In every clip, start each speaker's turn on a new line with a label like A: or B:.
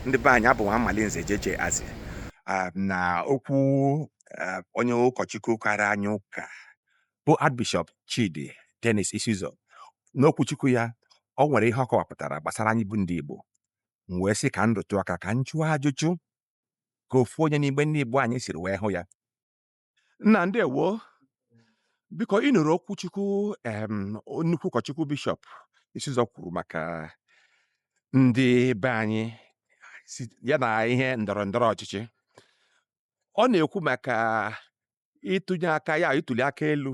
A: ndị be anyị abụ nwa Amalinze jeje azị ah, na okwu ah, onye ụkọchukwu kara anyị ụka bụ Archbishop Chidi Dennis Isizoh n'okwuchukwu ya o nwere ihe ọ kọwapụtara gbasara anyị bụ ndị Igbo m wee sị ka m rụtụ aka ka m jụọ ajụjụ ka ofu onye n'igbe ndị Igbo anyị siri wee hụ ya nna ndewo biko ị nụrụ okwuchukwu em nnukwu ụkọchukwu bishọp Isizoh kwuru maka ndị be anyị si- ya na ihe ndọrọ ndọrọ ọchịchị ọ na-ekwu maka ịtụnye aka ya ituli aka elu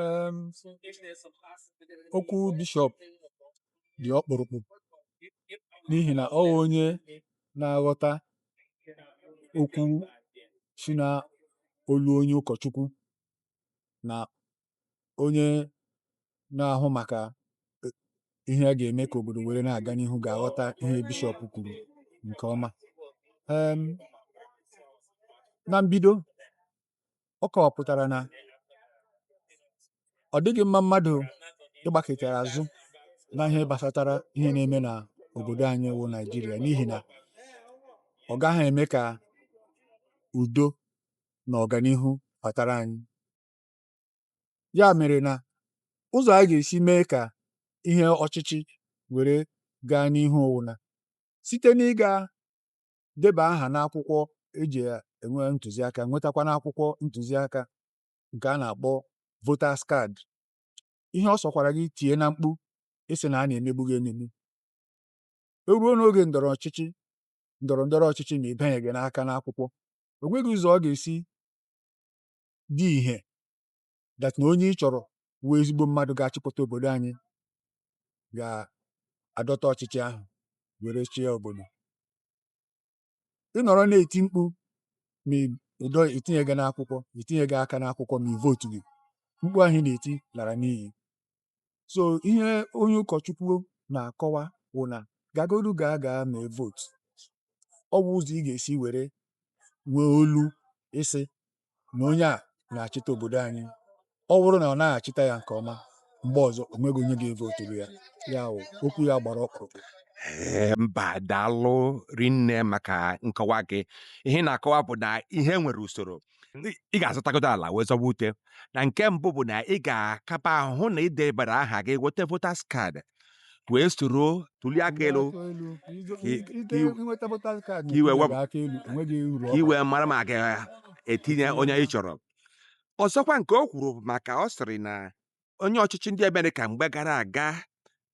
A: Em,
B: okwu bishọp dị ọkpụrụkpụ n'ihi na ọ bụ onye na-aghọta okwu si na olu onye ụkọchukwu na onye na-ahụ maka e- ihe a ga-eme ka obodo were na-aga n'ihu ga-aghọta ihe bishọp kwuru nke ọma Em, na mbido ọ kọwapụtara na ọ dịghị mma mmadụ ịgbakụtara azụ na ihe gbasatara ihe na-eme na obodo anyị wụ Naijiria n'ihi na ọ gaghị eme ka udo na ọganihu batara anyị ya mere na ụzọ a ga-esi mee ka ihe ọchịchị were gaa n'ihu ọ wụ na site n'ịga deba aha n'akwụkwọ e ji enwe ntụziaka nwetakwanụ akwụkwọ ntụziaka nke a na-akpọ voters card ihe ọ sọkwara gị tie na mkpu ịsị na a na-emegbu gị emegbu e ruo n'oge ndọrọ ọchịchị ndọrọ ndọrọ ọchịchị ma ị banyeghị n'aka n'akwụkwọ o nweghị ụzọ ọ ga-esi dị ihe that na onye ị chọrọ wụ ezigbo mmadụ ga-achịkọta obodo anyị ga-adọta ọchịchị ahụ were chịa obodo ị nọrọ na-eti mkpu ma ụdọ i tinyeghị n'akwụkwọ i tinyeghị aka n'akwụkwọ ma ị vootughị mkpu ahụ ị na-eti lara n'iyi so ihe onye ụkọchukwu na-akọwa wụ na gagodu gaa gaa mee vootu ọ wụ ụzọ ị ga-esi were nwee olu ịsị na onye a na-achịta obodo anyị ọ wụrụ na ọ naghị achịta ya nke ọma mgbe ọzọ o nweghị onye ga-evoturu ya ya wụ okwu ya gbara ọkpụrụkpụ Ee, mba
A: daalụ rinne maka nkọwa gị ihe ị na-akọwa bụ na ihe nwere usoro ị ga-azọtagodo ala wee zọba ute na nke mbụ bụ na ị ga-akaba ahụ na i debara aha gị weta voters card wee soro tuli aka elu ka i wee mara ma ị ga-etinye onye ị chọrọ ọzọkwa nke o kwuru maka ọ sịrị na onye ọchịchị ndị Amerịka mgbe gara aga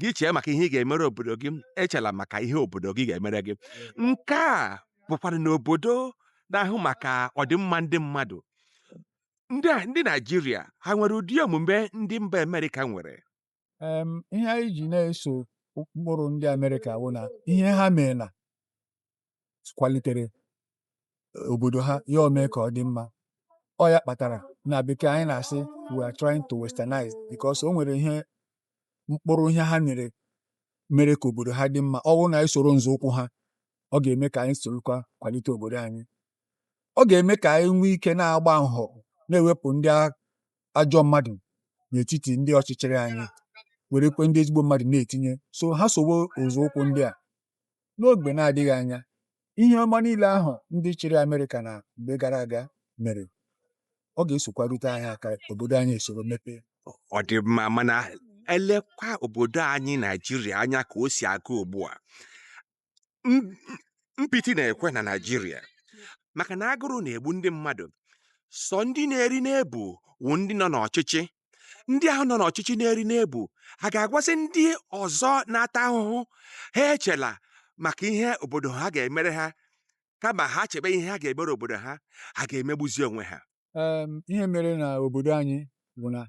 A: gị chee maka ihe ị ga-emere obodo gị echela maka ihe obodo gị ga-emere gị nke a bụkwara n'obodo na-ahụ maka ọdịmma ndị mmadụ ndị Naijiria ha nwere ụdị omume ndị mba Amerịka nwere
B: em, ihe anyị ji na-eso ụkpụrụ ndị Amerịka wụ na ihe ha mere na kwalitere obodo ha ya emee ka ọ dị mma ọ ya kpatara na bekee anyị na-asị we are trying to westernize because o nwere ihe mkpụrụ ihe ha mere mere ka obodo ha dị mma ọ bụrụ na anyị soro nzọụkwụ ha ọ ga-eme ka anyị sorokwa kwalite obodo anyị ọ ga-eme ka anyị nwee ike na-agba nhọ na-ewepụ ndị a- ajọ mmadụ n'etiti ndị ọchịchịrị anyị werekwe ndị ezigbo mmadụ na-etinye so ha sowo nzọụkwụ ndị a n'oge na-adịghị anya ihe ọma niile ahụ ndị chịrị Amerịka na mgbe gara aga mere ọ ga-esokwa rute anyị aka obodo anyị esoro mepee ọ dị mma
A: mana elekwa obodo anyị Naijiria anya ka o si aga ugbu a m- m- mpịtị na-ekwe na naijiria maka na agụrụ na-egbu ndị mmadụ sọ ndị na-eri na-ebu wụ ndị nọ n'ọchịchị ndị ahụ nọ n'ọchịchị na-eri na-ebu a ga-agwazi ndị ọzọ na-ata ahụhụ ha echela maka ihe obodo ha ga-emere ha kama ha chebe ihe ha ga-emere obodo ha ha ga-emegbuzi onwe ha Em, ihe mere
B: na obodo anyị bụ na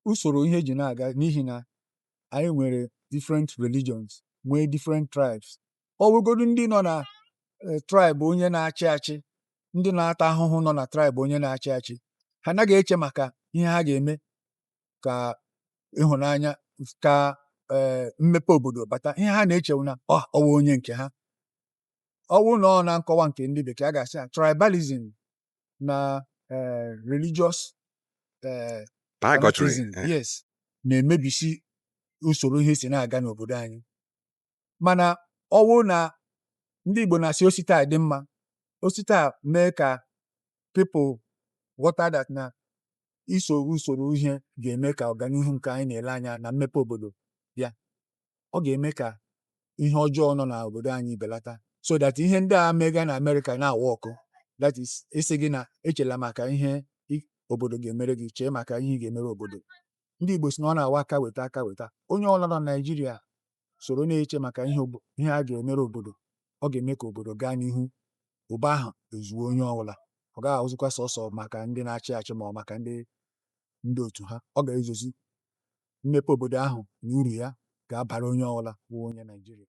B: usoro ihe ji na-aga n'ihi na anyị nwere different religions nwee different tribes ọ bụrụgodu ndị nọ na eh, tribe onye na-achị achị ndị na-ata ahụhụ nọ na tribe onye na-achị achị ha anaghị eche maka ihe ha ga-eme ka ịhụnanya ka eh, mmepe obodo bata ihe ha na-eche wụ na ọ wụ onye nke ha ọ bụrụ na ọ na nkọwa nke ndị bekee a ga-asị ya tribalism na eh, religious
A: eh, Bigotry. fanatism, Eh,
B: yes na-emebisi usoro ihe si na-aga n'obodo anyị mana ọ bụrụ na ndị Igbo na-asị o si taa dị mma o si taa mee ka people ghọta that na iso usoro ihe ga-eme ka ọganihu nke anyị na-ele anya na mmepe obodo bịa ọ ga-eme ka ihe ọjọọ nọ n'obodo anyị belata so that ihe ndị a mega na Amerịka na-awork that is ịsị gị na echela maka ihe obodo ga-emere gị chee maka ihe ị ga-emere obodo ndị Igbo si na ọ na-awụ aka weta aka weta onye ọbụla nọ na Naịjirịa soro na-eche maka ihe a ga-emere obodo ọ ga-eme ka obodo gaa n'ihu ụba ahụ ezuo onye ọbụla ọ gaghị awụzikwa sọsọ maka ndị na-achị achị ma ọ maka ndị ndị otu ha ọ ga-ezuzi mmepe obodo ahụ na uru ya ga-abara onye ọbụla bụ onye Naijiria.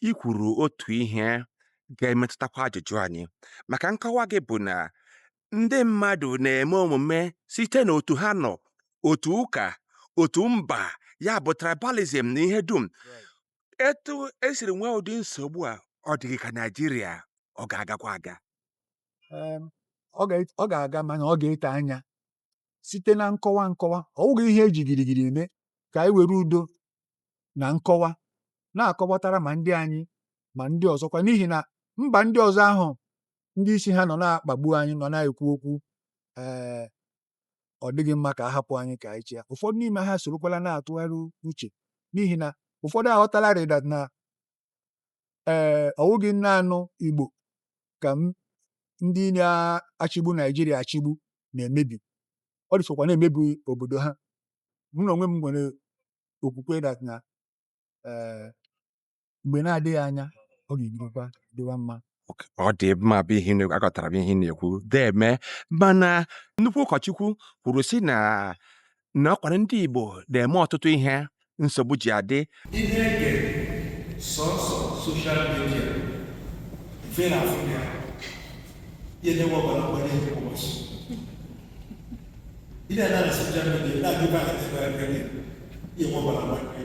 B: I
A: kwuru otu ihe ga-emetụtakwa ajụjụ anyị, maka nkọwa gị bụ na ndị mmadụ na-eme omume site n'otu ha nọ, otu ụka, otu mba, ya bụ tribalism na ihe dum. Etu e siri nwee ụdị nsogbu a, ọ dịghị ka Naijiria ọ ga-agakwa aga. Em, ọ ga-
B: ọ ga-aga mana ọ ga-ete anya site na nkọwa nkọwa ọ wụghị ihe eji girigiri eme ka anyị were udo na nkọwa na-akọwatara ma ndị anyị ma ndị ọzọkwa n'ihi na mba ndị ọzọ ahụ ndị isi ha nọ na-akpagbu anyị nọ na-ekwu okwu ee ọ dịghị mma ka a hapụ anyị ka anyị chịa ụfọdụ n'ime ha sorokwala na-atụgharị uche n'ihi na ụfọdụ aghọtalarị dat na ee ọwụghị naanị Igbo ka ndị na-achịgbu Naijiria achịgbu na-emebi ọ dịsokwa na-emebi obodo ha mụ na onwe m nwere okwukwe dat na ee mgbe na-adịghị anya ọ ga-ebirikwa dịwa mma ọ dị
A: mma bụ ihe na- aghọtara m ihe ị na-ekwu deeme mana nnukwu ụkọchukwu kwuru sị na na ọkwara ndị Igbo na-eme ọtụtụ ihe nsogbu ji adị ị na-ege
C: sọsọ soshal midia mfe na afọ ya ya emewe ọgbara mgbanye nke ụbọchị ị na-anọ na soshal midia na-agụba na ebe ebe ya enwe ọgbara mgbanye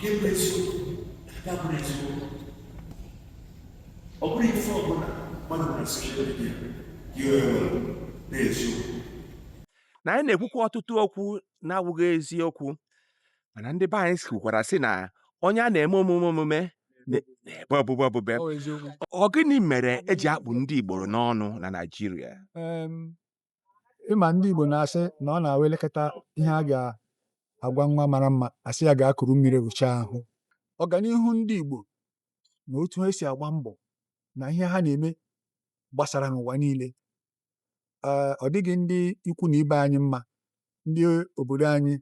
C: ga-enwe eziokwu ga-abụrụ eziokwu ọ bụrụ ife ọbụla mmadụ na soshal midia iwe nwere na eziokwu
A: na anyị na-ekwukwa ọtụtụ okwu na-awụghị eziokwu mana ndị be anyị kwukwara sị na onye a na-eme omume omume na-ebe obube obube ọ gịnị mere eji akpụ ndị Igbo n'ọnụ na Naịjirịa
B: ịma ndị Igbo na-asị na ọ na-awụ e lekata ihe a ga-agwa nwa mara mma a sị ya gaa kuru mmiri wụchaa ahụ ọganihu ndị Igbo na otu ha si agba mbọ na ihe ha na-eme gbasara n'ụwa niile ee ọ dịghị ndị ikwu na ibe anyị mma ndị obodo anyị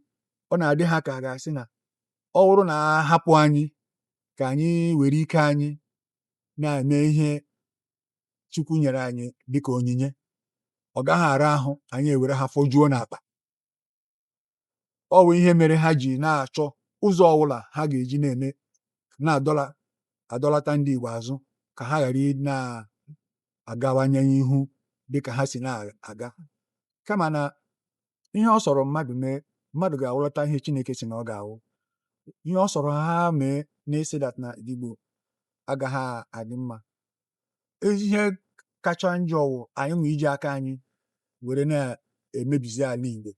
B: ọ na-adị ha ka a ga-asị na ọ bụrụ na a hapụ anyị ka anyị were ike anyị na-eme ihe Chukwu nyere anyị dịka onyinye ọ gaghị ara ahụ anyị ewere ha fọjuo n'akpa ọ bụ ihe mere ha ji na-achọ ụzọ ọbụla ha ga-eji na-eme na-adọla adọlata ndị Igbo azụ ka ha ghara na-agawanye ihu dịka ha si na-aga kama na ihe ọ sọrọ mmadụ mee mmadụ ga-awụlata ihe Chineke sị na ọ ga-awụ ihe ọ sọrọ ha mee na-asị dat na Igbo agaghị adị mma ihe kacha njọ wụ anyị nwa iji aka anyị were na-emebizi ala Igbo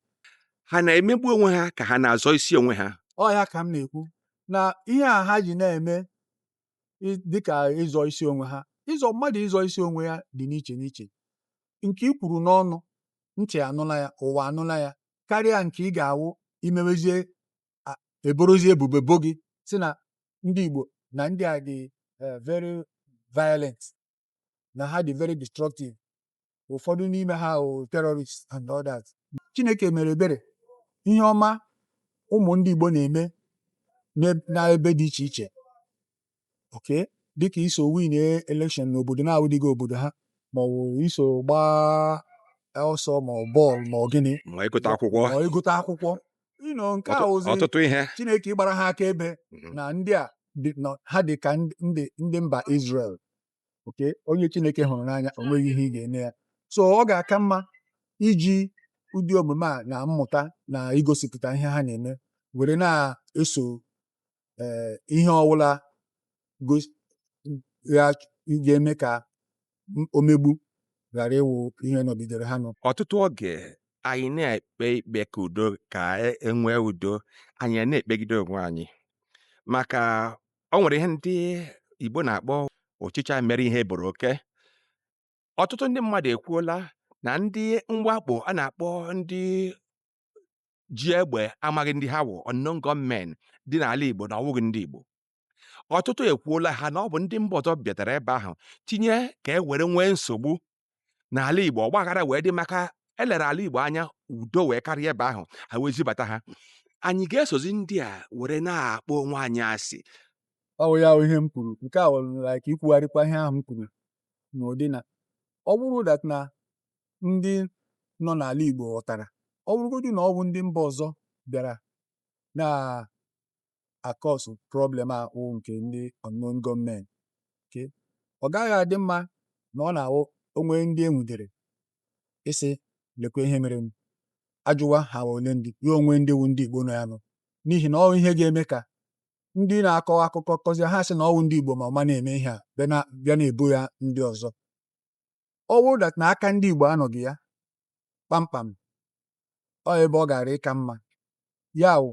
B: ha na-emegbu
A: onwe ha ka ha na-azọ isi onwe ha ọ ya ka m na-ekwu
B: na ihe a ha ji na-eme dịka ịzọ isi onwe ha ịzọ mmadụ ịzọ isi onwe ya dị n'iche n'iche nke i kwuru n'ọnụ ntị anụla ya ụwa anụla ya karịa nke ị ga-awụ imewezie eborozi ebubo bo gị sị na ndị Igbo na ndị a dị eh, very violent na ha dị very destructive ụfọdụ n'ime ha wụ terrorists and all that Chineke mere ebere ihe ọma ụmụ ndị Igbo na-eme n'eb- n'ebe dị iche iche okay dịka iso win election n'obodo na-awụdịghị obodo ha ma ọ bụ iso gbaa ọsọ ma ọ bọọlụ ma ọ gịnị ma ịgụta akwụkwọ ma
A: ịgụta akwụkwọ
B: ịnọ nke a ozi ọtụtụ ihe Chineke
A: ji gbara ha
B: akaebe mhm. na ndị a ha dị ka ndị mba Israel okay onye Chineke hụrụ n'anya o nweghị ihe ị ga-eme ya so ọ ga-aka mma iji ụdị omume a na mmụta na igosipụta ihe ha na-eme were na-eso ee ihe ọwụla gos- ga- ga-eme ka m- omegbu ghara ịwụ ihe nọgidere ha nọ ọtụtụ oge
A: anyị na-ekpe ikpe ka udo ka e- e nwee udo anyị a na-ekpegide onwe anyị maka o nwere ihe ndị Igbo na-akpọ ọchịcha mere ihe e boro oke ọtụtụ ndị mmadụ ekwuola na ndị mwakpo a na-akpọ ndị ji egbe amaghị ndị ha wụ unknown gunmen dị n'ala Igbo na ọwụghị ndị Igbo ọtụtụ ekwuola ha na ọ bụ ndị mba ọzọ bịatara ebe ahụ tinye ka e were nwee nsogbu n'ala Igbo ọgbaghara wee dị maka e lere ala Igbo anya udo wee karịa ebe ahụ ha wee zibata ha anyị ga-esozi ndị a were na-akpọ onwe anyị asị ọ bụ ya
B: bụ ihe m kwuru nke a wụrụ like ikwugharịkwa ihe ahụ m kwuru n'ụdị na ọ bụrụ that na ndị nọ n'ala Igbo ghọtara ọ bụrụgodị na ọ bụ ndị mba ọzọ bịara na-akọsụ problem a wụ nke ndị unknown gunmen ke ọ gaghị adị mma na ọ na-awụ o nwee ndị e nwudere ịsị lekwa ihe mere m a jụwa ha wụ ole ndị ya enwee ndị wụ ndị Igbo nọ ya nọ n'ihi na ọ ihe ga-eme ka ndị na-akọ akụkọ kọzie ha sị na ọ wụ ndị Igbo ma ụma na-eme ihe a bịa na- bịa na-ebo ya ndị ọzọ ọ wụrụ that na aka ndị Igbo anọghị ya kpamkpam ọ ebe ọ gara ịka mma ya wụ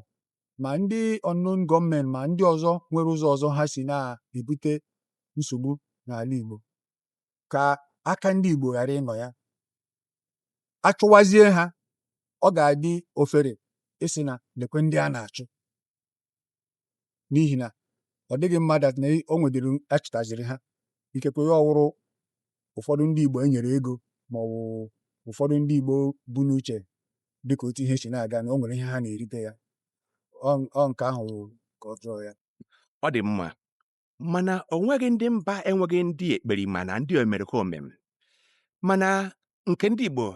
B: ma ndị unknown gunmen ma ndị ọzọ nwere ụzọ ọzọ ha si na-ebute nsogbu n'ala Igbo ka aka ndị Igbo ghara ịnọ ya achụwazie ha ọ ga-adị ofere ịsị na lekwe ndị a na-achụ n'ihi na ọ dịghị mma that na o nwedịrị achịtaziri ha ikekwe ya ọwụrụ ụfọdụ ndị Igbo enyere ego ma ọ bụ ụfọdụ ndị Igbo bu n'uche dịka otu ihe si na-aga na o nwere ihe ha na-erite ya ọ nke ahụ ka ọjọọ ya ọ dị
A: mma mana o nweghị ndị mba enweghị ndị ekperima na ndị omerikome mana nke ndị Igbo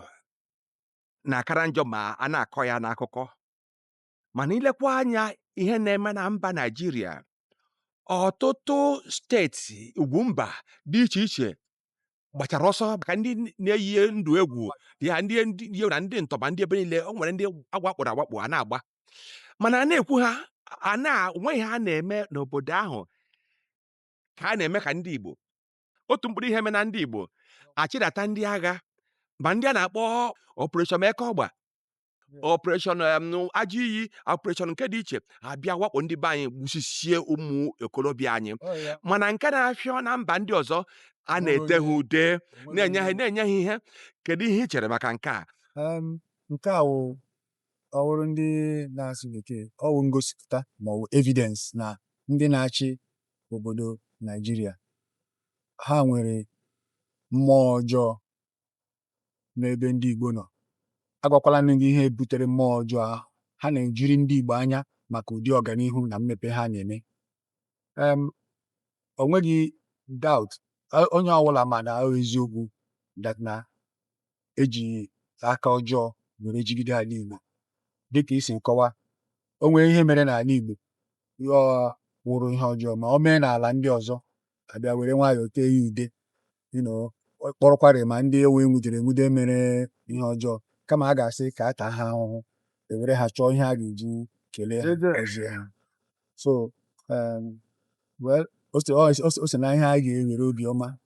A: na-akara njọ ma a na-akọ ya n'akụkọ mana ilekwa anya ihe na-eme na mba Naịjirịa ọtụtụ steeti ugwu mba dị iche iche gbachara ọsọ maka ndị na-eyi ndụ egwu ya ndị ndị na ndị ntọ bandit ebe niile o nwere ndị agwakpụrụ agwakpụ a na-agba mana a na-ekwu ha na enweghị ihe a na-eme n'obodo ahụ ka a na-eme ka ndị Igbo otu mkpụrụ ihe mee na ndị Igbo achịdata ndị agha ma ndị a na-akpọ Operation Eke Ọgba Operation em, agụ iyi Operation nke dị iche abịa wakpo ndị be anyị gbusisie ụmụ okorobịa anyị Ọ ya. mana nke na-afịọ na mba ndị ọzọ a na-ete ha ude na-enye ha ihe kedu ihe ị chere maka nke a Em, nke a
B: wụ ọwụrụ ndị na-asụ bekee ọ wụ ngosipụta ma ọ wụ evidence na ndị na-achị obodo Naijiria ha nwere mmụọ ọjọọ n'ebe ndị Igbo nọ. Agwakwala m gị ihe butere mmụọ ọjọọ ahụ. Ha na-ejiri ndị Igbo anya maka ụdị ọganihu na mmepe ha na-eme. Um, o nweghị doubt a- onye ọbụla ma na ọ eziokwu that na eji aka ọjọọ were jigide ala Igbo dịka i si kọwaa o nwere ihe mere n'ala Igbo ya wụrụ ihe ọjọọ ma o mee n'ala ndị ọzọ abịa were nwayọọ tee ya ude you know, ọ kpọrọkwarị ma ndị enwu- enwudere enwude mere ihe ọjọọ kama a ga-asị ka a taa ha ahụhụ ewere ha chọọ ihe a ga-eji kelee ha gọzie ha so um, well o si- ọ- o si- o si na ihe a ga-ewere obiọma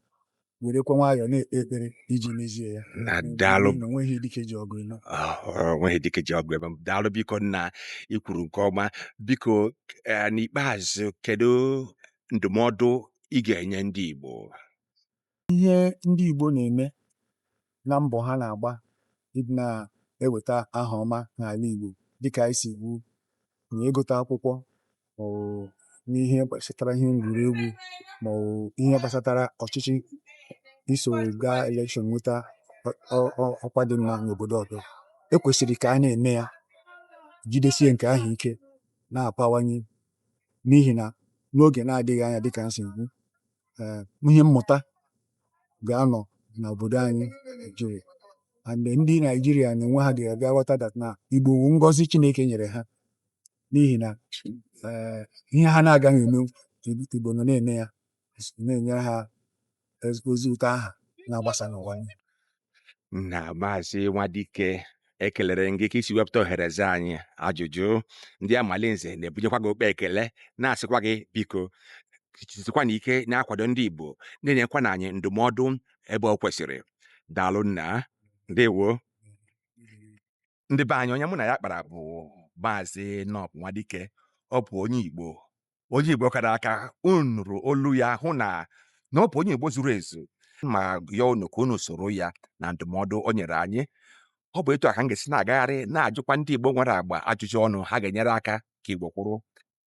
B: werekwa nwayọọ na-ekpe ekpere iji mezie ya na daalụ na onweghị dike ji ọgụ ịnọ Ah, ọ nweghị
A: dike ji ọgụ ebe m. daalụ biko nna ikwuru nke ọma biko eh, n'ikpeazụ kedu ndụmọdụ ị ga-enye ndị Igbo? Ihe
B: ndị Igbo na-eme na mbọ ha na-agba ịdị na-eweta aha ọma n'ala Igbo dịka anyị si kwu na ịgụta akwụkwọ maọbụ n'ihe gbasatara ihe egwuregwu maọbụ ihe gbasatara ọchịchị iso gaa elekshọn nweta ọkwa dị mma n'obodo ọzọ ekwesịrị ka a na-eme ya jidesie nke ahụ ike na-apawanye n'ihi na n'oge na-adịghị anya dịka m si ekwu ee ihe mmụta ga-anọ n'obodo anyị Naijiria and ndị Naijiria na onwe ha ga-abịa ghọta that na Igbo wu ngọzi Chineke nyere ha n'ihi na ee ihe ha na-agaghị eme Igbo nọ na-eme ya na-enyere ha ezi- ozi ụtọ aha na-agbasa n'ụwa
A: niile. na maazị nwadike ekelere m gị ka i si wepụta ohere za anyị ajụjụ ndị amalinze na-ebunyekwa gị ụkpa ekele na-asịkwa gị biko jisikwa na ike na-akwado ndị igbo na-enyekwa na anyị ndụmọdụ ebe ọ kwesịrị daalụ nna ndewo ndị be anyị onye mụ na ya kpara bụ maazị nọb nwadike ọ bụ onye igbo onye igbo kara aka unu nụrụ olu ya hụ na na ọ bụ onye igbo zuru ezu ma ya unu ka unu soro ya na ndụmọdụ o nyere anyị ọ bụ etu a ka m ga-esi na-agagharị na-ajụkwa ndị igbo nwere agba ajụjụ ọnụ ha ga-enyere aka ka igbo kwụrụ